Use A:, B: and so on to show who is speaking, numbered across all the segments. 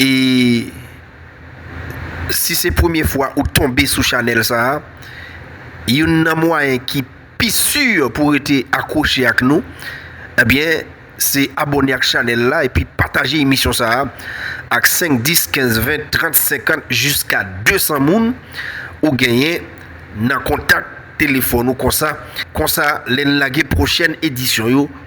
A: E si se premye fwa ou tonbe sou chanèl sa a, youn nan mwayen ki pi si pou rete akwoche ak nou, ebyen se abone ak chanèl la epi pataje emisyon sa a ak 5, 10, 15, 20, 30, 50 jiska 200 moun ou genyen nan kontak telefòn ou konsa, konsa lè n lage pwochèn edisyon yo.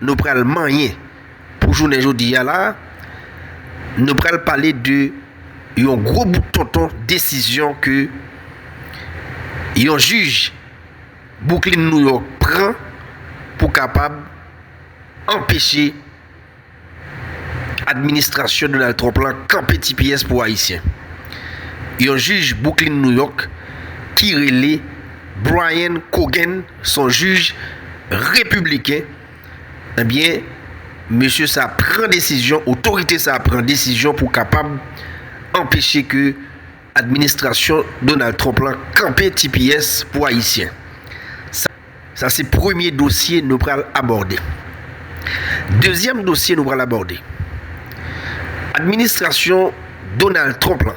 A: Nou pral manyen pou jounen jodi a la a, nou pral pale de yon gwo bout tonton desizyon ke yon jij Bwouklin Nouyòk pran pou kapab anpeche administrasyon Donald Trump la kanpe ti pyès pou Ayisyen. Yon jij Bwouklin Nouyòk ki rele Brian Cogan son jij repibliken ebyen mesye sa pran desizyon otorite sa pran desizyon pou kapab anpeche ke administrasyon Donald Trump lan kanpe tps pou ayisyen sa se premye dosye nou pral abòde dezyèm dosye nou pral abòde administrasyon Donald Trump lan.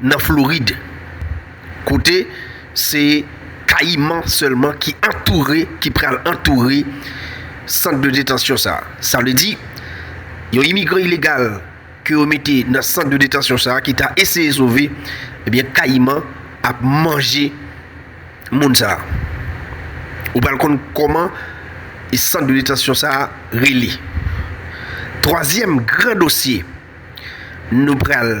A: nan Florid, kote se kayiman sèlman ki antoure, ki pral antoure sant de detansyon sa a. Sa vle di, yon imigran ilegal ke yo mete nan sant de detansyon sa a ki ta eseye sove, ebyen kayiman ap manje moun sa a. Ou pral konn kòman e sant de detansyon sa a rele. Twazyèm gran dosye nou pral.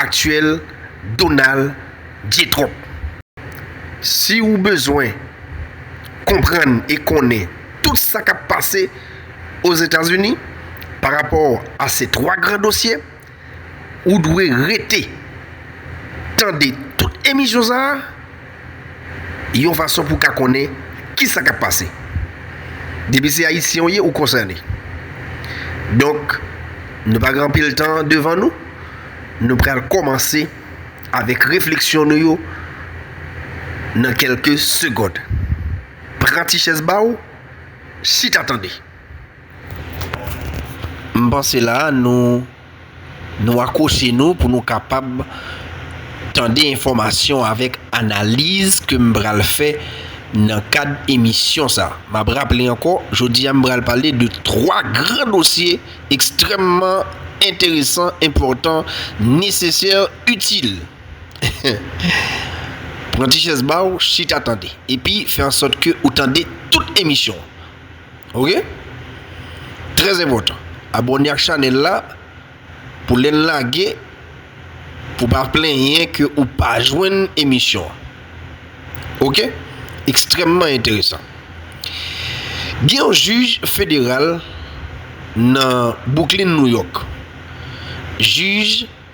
A: aktyèl Donald J. Trump. Si ou bezwen konprann e konnen tout sa k ap pase Ozetazini pa rapò a se 3 gran dosye, ou dwe rete tande tout emisyon sa a. yon fason pou ka konnen kisa kap pase. Depi se ayisyen ou ye ou konsène. Donk nou pa gen anpil tan devan nou, nou pral kòmanse avèk refleksyon nou yo nan kèlke segond. Pran ti chèz ba ou, chita tande. M panse la nou. Nou akwoche nou pou nou kapab tande enfòmasyon avèk analiz ke m pral fè nan kad emisyon sa. M ap raple ankò, jodi a m pral pale de 3 gran dosye ekstrèmman enteresan, enpòtan, nesesè, itil. Pran ti chèz ba ou, chita tande. Epi, fè an sòt ke ou tande tout emisyon an. Ok Trè enpòtan Abòne ak chanèl la Pou lè n lage Pou pa plenyen ke ou pa jwenn emisyon an Ok Ekstrèmman enteresan Gen yon jij federal Nan Bouklin Nouyòk Jij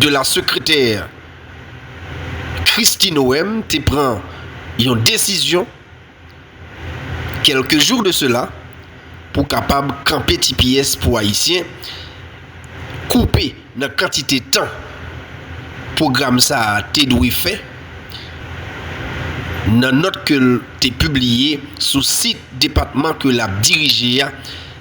A: de la sekretè Kristi Noem te pran yon desizyon kelke jou de sela pou kapab kanpe ti pyès pou Ayisyen, koupe nan kantite tan pwogram sa a te dwe fè nan nòt ke l te pibliye sou sit depatman ke l ap dirije a.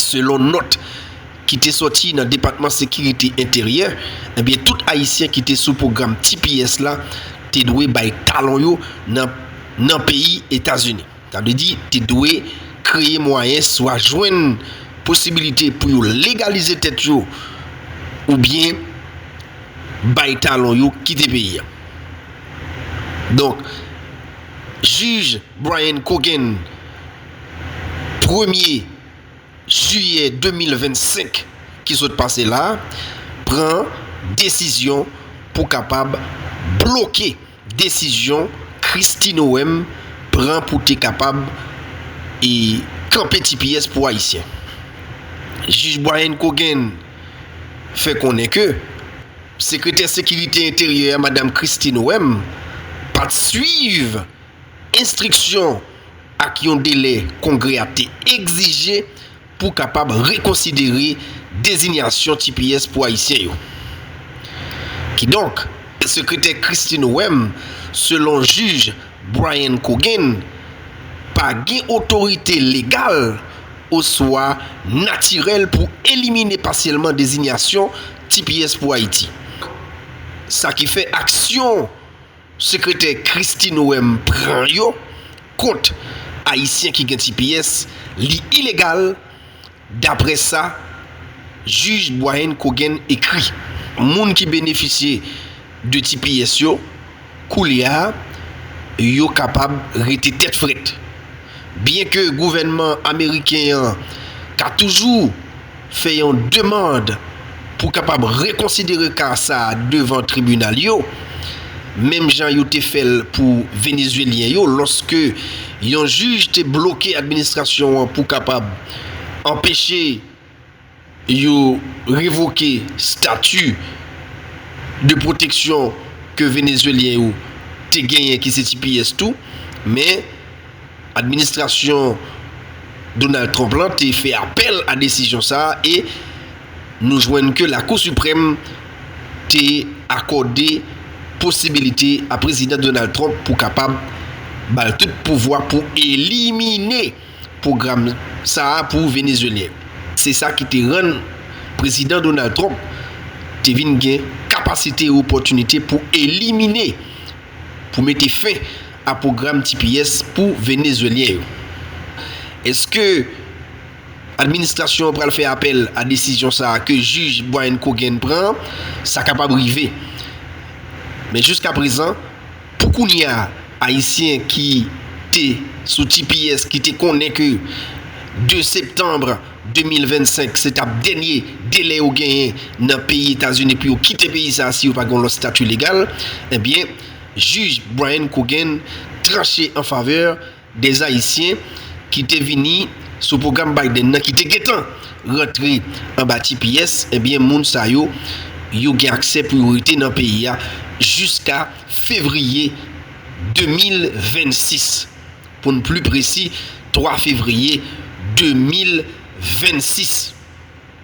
A: Selon nòt ki te sòti nan Depatman Sekirite Enteryè, ebyen tout ayisyen ki te sou pwogram tps la te dwe bay talon yo nan nan peyi Etazini. Sa vle di te dwe kreye mwayen swa jwenn posibilite pou yo legalize tèt yo oubyen bay talon yo kite peyi a. Donk, Jij Brian Cogan premye jiyè 2025 ki sot pase la a, pran desizyon pou kapab bloke desizyon Kristi Nowèm pran pou te kapab e kanpe tps pou Ayisyen. Jij Brian Cogan fè konnen ke Sekretè Sekirite Enteryè a Madam Kristi Nowèm pat swiv enstriksyon ak yon delè Kongrè a te egzije pou kapab rekonsidere dezinyasyon tps pou Ayisyen yo. Kidonk, Sekretè Kristi Noem, selon jij Brian Coggin, pa gen otorite legal oswa natirèl pou elimine pasyèlman dezinyasyon tps pou Ayiti, sa ki fè aksyon. Sekretè Kristi Noem pran yo kont Ayisyen ki gen tps li ilegal daprè sa Jij Bwayenn Kogen ekri. Moun ki benefisye de tps yo koulye a yo kapab rete tèt frèt. Byenke gouvènman ameriken an ka toujou fè yon demand pou kapab rekonsidere ka sa devan tribinal yo, menm jan yo te fè l pou Venezuelyen yo lòske yon jij te bloke administrasyon an pou kapab anpeche Yo revoke stati de pwoteksyon ke Venezuelyen yo te genyen ki se tps tou, men administrasyon Donald Trump lan te fè apèl a desizyon sa a e nou jwenn ke Lakou Siprèm te akòde posibilite a Prezidan Donald Trump pou kapab ba l tout pouvwa pou elimine pwogram sa a pou Venezyelyen. Se sa ki te rann Prezidan Donald Trump te vin gen kapasite e opòtinite pou elimine, pou mete fen a pwogram tps pou Venezyelyen yo. Eske administrasyon an pral fè apèl a desizyon sa a ke jij Brian Cogan pran an? Sa kapab rive. Men jiskaprezan. Pou kounye a, Ayisyen ki te sou tps ki te konnen ke 2 septanbre 2025 se tap dènye delè yo genyen nan peyi Etazini pou yo kite peyi sa a si yo pa gen yon lòt stati legal, ebyen jij Brian Cogan tranche an favè. Dèz Ayisyen ki te vini sou pwogram Biden nan ki te gentan rantre anba tps, ebyen moun sa yo, yo gen aksè pou yo rete nan peyi a jiska fevriye 2026. Pou n pli presi, 3 fevriye 2026.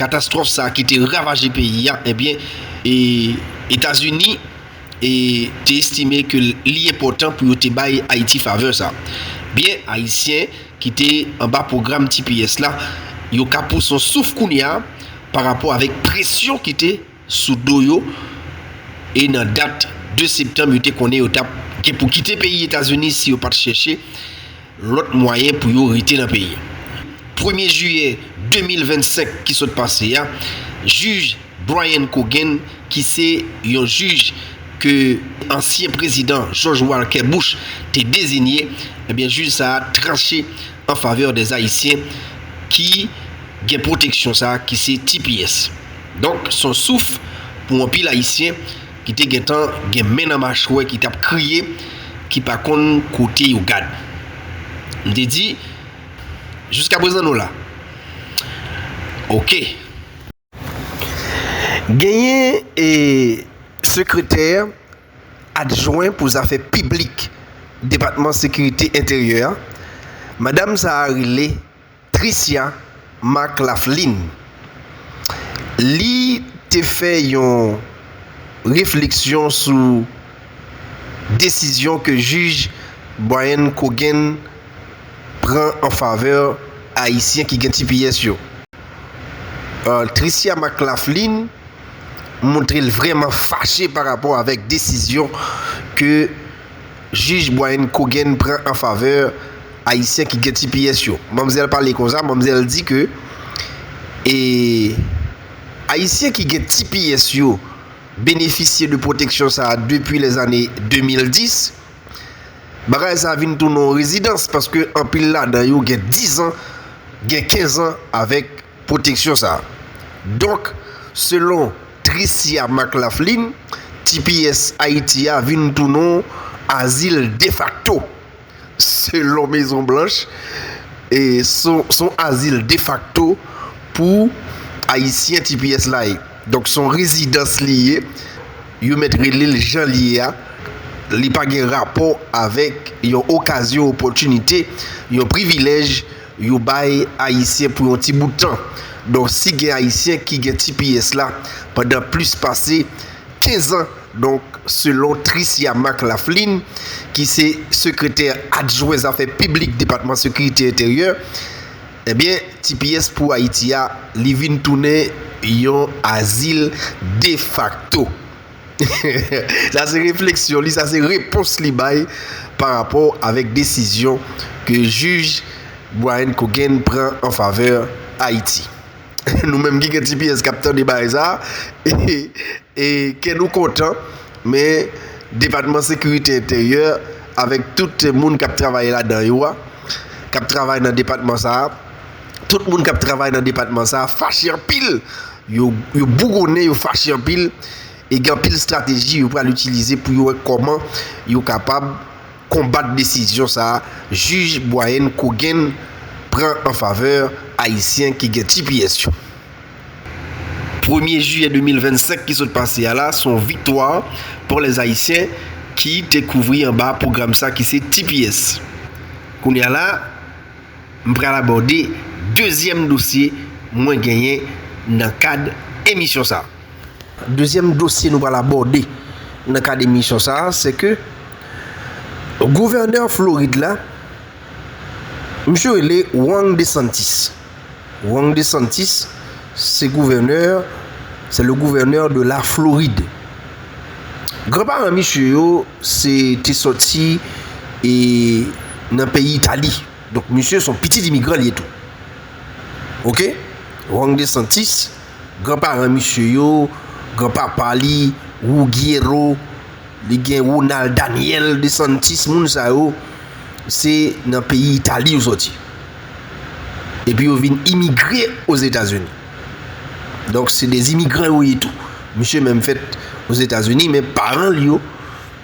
A: Katastwòf sa ki te ravaje peyi a, ebyen Etazini te estime ke li enpòtan pou yo te bay Ayiti favè sa. Byen Ayisyen ki te anba pwogram tps la, yo ka pran son souf kounye a parapò avèk presyon ki te. sou do yo e nan dat 2 septanm yo te konnen yo tap gen pou kite peyi Etazini si yo pat chèche lòt mwayen pou yo rete nan peyi a. Premye jiyè 2025 ki sot pase a, jij Brian Cogan ki se yon jij ke ansyen prezidan George Walker Bush te dezinye, ebyen jij sa a tranche an favè dè Ayisyen ki gen pwoteksyon sa a ki se tps. Donk, s on souf pou anpil Ayisyen ki te gentan gen men nan machwè ki t ap kriye, ki pa konn kote yo gad. M te di, Jiska prezan nou la. Oke. Genyen sekretè adjwen pou zafè piblik Depatman Sekirite Enteryè a, madam sa a rele. Tricia McLaughlin. Li te fè yon refleksyon sou desizyon ke jij Brian Cogan pran an favè Ayisyen ki gen tps yo. Tricia McLaughlin montre l vrèman fache pa rapò avèk desizyon ke jij Brian Cogan pran an favè Ayisyen ki gen tps yo. Manmzèl pale konsa, manmzèl di ke e Ayisyen ki gen tps yo benefisye de pwoteksyon sa a depi lè zane 2010. Bagay sa a vin tounen yon rezidans paske anpil ladan yo gen 10 an, gen 15 an avèk pwoteksyon sa a. Donk, selon Tricia McLaughlin, tps Ayiti a vin tounen yon azil defakto. Selon Mezon Blanch, s on azil defakto pou Ayisyen tps la ye. Donk s on rezidans li ye, yo mèt rele l jan l ye a, li pa gen rapò avèk yon okazyon, opòtinite, yon privilèj yo bay Ayisyen pou yon ti bout tan. Donk si gen Ayisyen ki gen tps la pandan plis pase. 15 an. Donk, selon Tricia Marc Lafflin, ki se sekretè adjwen zafè piblik Depatman Sekirite Enteryè, ebyen tps pou Ayiti a, li vin tounen yon azil defakto. Sa se refleksyon li, sa se repons li bay pa rapò avèk desizyon ke jij Brian Cogan pran an favè Ayiti. Nou menm ki gen ti pyès k ap tande bagay sa a, kè nou kontan. Men, Depatman Sekirite Enteryè avèk tout moun k ap travay ladan yo a, k ap travay nan depatman sa a, tout moun k ap travay nan depatman sa a fache anpil. Yo bougonnen, yo fache anpil e gen anpil estrateji yo pral itilize pou yo wè kòman yo kapab konbat desizyon sa jij Boihen Coguen pran an favè ayisyen ki gen tps yo. Premye jiyè 2025 ki sot pase a la son viktwa pou lè ayisyen ki te kouvri anba pwogram sa ki se tps. Kounye a la m pral abòde dezyèm dosye mwen genyen nan kad emisyon sa. Dezyèm dosye nou pral abòde nan kad emisyon sa a se ke gouvènè Florid la misye rele Ron DeSantis. Ron DeSantis se gouvènè se le gouvènè de la Florid. Gran paran misye yo se te sòti e nan peyi Itali. Donk misye son pitit imigran li ye tou. Ok? Ron DeSantis. Gran paran misye yo, gran papa li, Ruggiero, li gen Ronald Daniel de Santis, moun sa yo, se nan peyi Itali yo sòti. Epi yo vin imigre Ozetazini. Donk se de imigran yo ye tou. Misye menm fèt Ozetazini men paran li yo,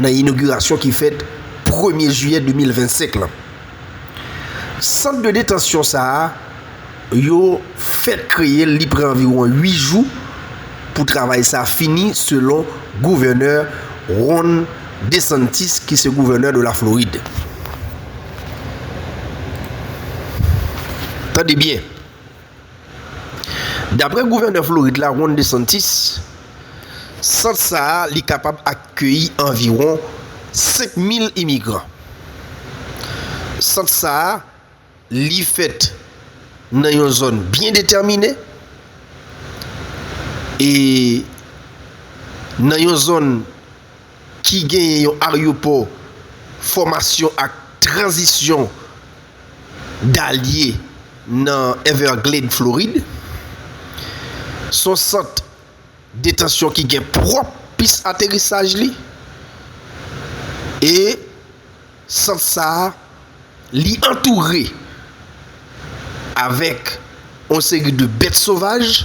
A: Nan inogirasyon ki fèt premye jiyè 2025 lan, sant de detansyon sa a, yo fèt kreye l, li pran anviwon 8 jou pou travay sa fini selon gouvènè Ron DeSantis ki se gouvènè de la Florid. Tande byen! Daprè gouvènè Florid la Ron DeSantis, sant sa a li kapab akeyi anviwon 5 mil imigran. Sant sa a li fèt nan yon zòn byen detèmine e nan yon zòn ki genyen yon aryopò fòmasyon ak tranzisyon Dalye nan Everglade, Florid. Se yon sant detansyon ki gen pwòp pis aterisaj li e sant sa a li antoure avèk yon seri de bèt sovaj.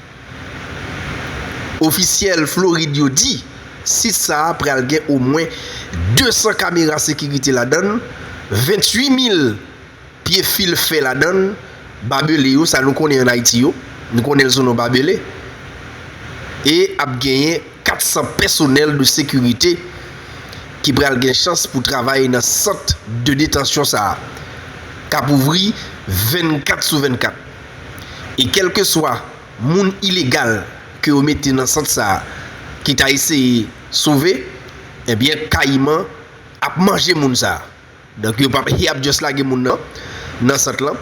A: Ofisyèl Florid yo di sit sa a pral gen omwen 200 kamera sekirite ladann, 28 mil pye fil fè ladann, babele yo, sa nou konnen an Ayiti yo, nou konnen l sou non babele, e ap genyen 400 pèsonèl de sekirite ki pral gen chans pou travay nan sant de detansyon sa a, k ap ouvri 24 sou 24. E kèlkeswa moun ilegal ke yo mete nan sant sa a ki ta eseye sove, ebyen kayiman ap manje moun sa a. Donk yo pap y ap just lage moun nan nan sant lan.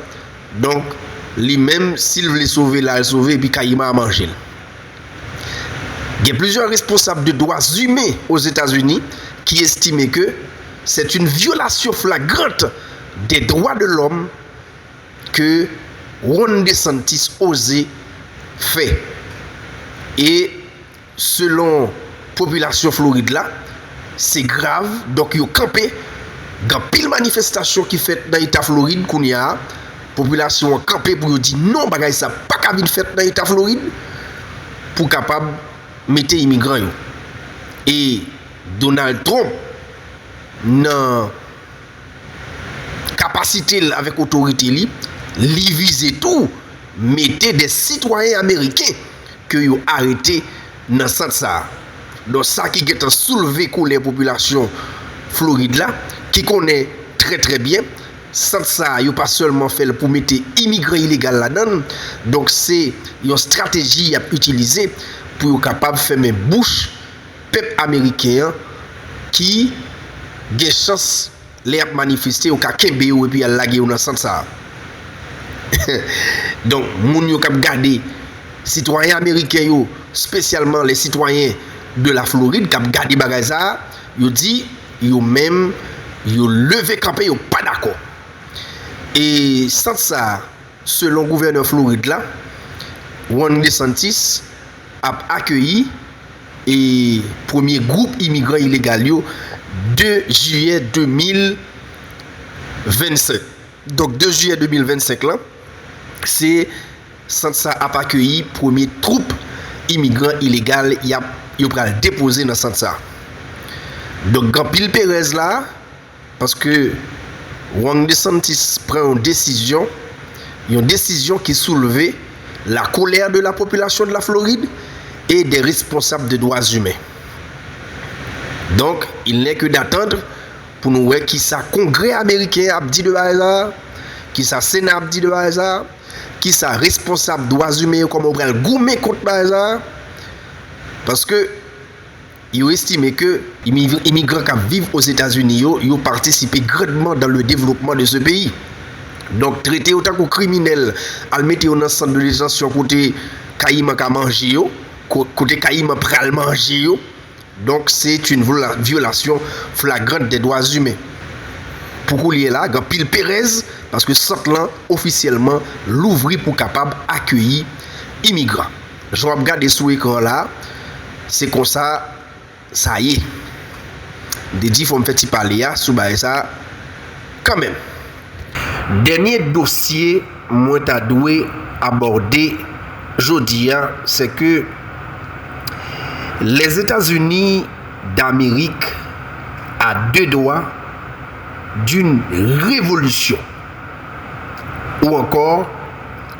A: Donk li menm si l vle sove l al sove epi kayiman a manje l. Gen plizyè responsab de dwa zimen Ozetazini ki estime ke sèt yn vyolasyon flagrant de dwa de lòm, ke Ron DeSantis oze fè e selon popilasyon Florid la se grav donk yo kanpe gen anpil manifestasyon ki fèt nan eta Florid kounye a popilasyon an kanpe pou yo di non bagay sa paka vin fèt nan eta Florid pou kapab mete imigran yo e Donald Trump nan. kapasite l avèk otorite li, li vize tou mete 2 sitwayen ameriken ke yo arete nan sant sa a. Don sa ki gentan soulve kolè popilasyon Florid la ki konnen trè trè byen sant sa a yo pa sèlman fè l pou mete imigran ilegal ladan l, donk se yon strateji y ap itilize pou yo kapab fèmen bouch. Pèp ameriken an ki gen chans lè yap manifeste yo ka kenbe yo epi al lage yo nan sant sa. Donk moun yo kap gade sitwayen ameriken yo spesyalman les citoyens de la Floride kap gade bagay sa yo di yo menm yo leve kanpe yo pa dakò. E sant sa. selon gouvènè Florid la, Ron DeSantis, ap akeyi e premye gwoup imigran ilegal yo 2 jiyè 2025. Donk 2 jiyè 2025 lan, se sant sa ap akeyi premye twoup imigran ilegal y ap yo pral depoze nan sant sa. Donk gen anpil perèz la. Paske Ron DeSantis pran yon desizyon, yon desizyon ki soulve la colère de la population de la Floride et des responsables de droits humains. Donk, il n'est que d'attendre pou nou wè kisa Kongrè Ameriken an ap di de bagay sa a, kisa Sena ap di de bagay sa a, kisa responsab dwa zimen yo kòman yo pral goumen kont bagay sa a. Paske. Yo estime ke imigran kap viv Ozetazini yo, yo patisipe grandman dan le devlopman de se peyi. Donk trete yo tankou kriminèl, al mete yo nan sant de detansyon kote kayiman ka manje yo, kote kayiman pral manje yo, donk se yn vyolasyon flagrant de dwa zimen. Pou koulye la, gan pil perèz, paske sant lan ofisyèlman louvri pou kapab akeyi imigran. Jan wap gade sou ekran la se konsa sa ye. M te di fòm fè ti pale a sou bagay sa kanmenm. Dènye dosye mwen ta dwe abòde jodi a se ke Lèzetazini Damerik a de dwa d'une revolisyon ou ankò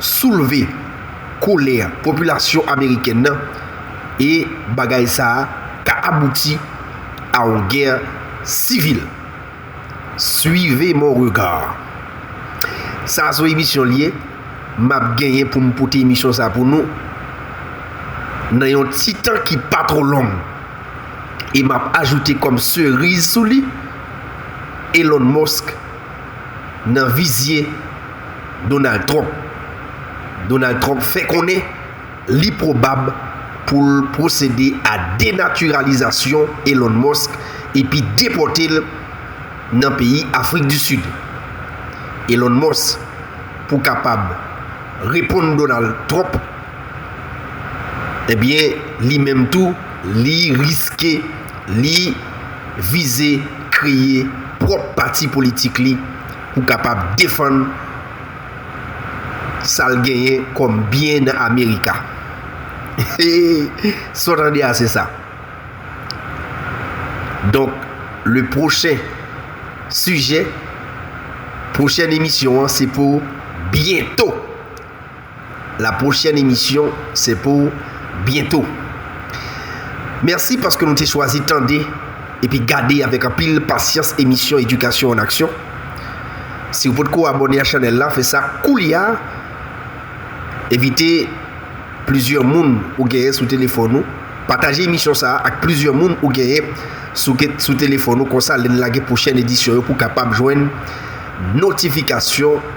A: soulve kolè popilasyon amerikèn nan e bagay sa a ka abouti a yon gè sivil. Suivez mon regard. Sa a son emisyon li ye, m ap genyen pou m pote emisyon sa a pou nou nan yon ti tan ki pa twò long. E m ap ajoute kòm seriz sou li, Elon Musk nan vizye. Donald Trump Donald Trump fè konnen li pwobab pou l pwosede a denatiralizasyon Elon Musk epi depòte l nan peyi Afrik di Sid. Elon Musk pou kapab reponn Donald Trump ebyen li menm tou li riske li vize kreye pwòp pati politik li pou kapab defann sa l genyen kòm byen nan Amerika. Sa w tande a se sa. Donk, le pwochen sijè, pwochèn emisyon an se pou byento. La pwochèn emisyon se pou byento. Mèsi paske nou te chwazi tande epi gade avèk anpil pasyans emisyon Edikasyon an Aksyon. Si ou potko abòne a chanèl la, fè sa koulya. Envite plizyè moun ou genyen sou telefòn ou. Pataje emisyon sa a ak plizyè moun ou genyen sou telefòn ou konsa lè n lage pwochèn edisyon yo pou w kapab jwenn notifikasyon.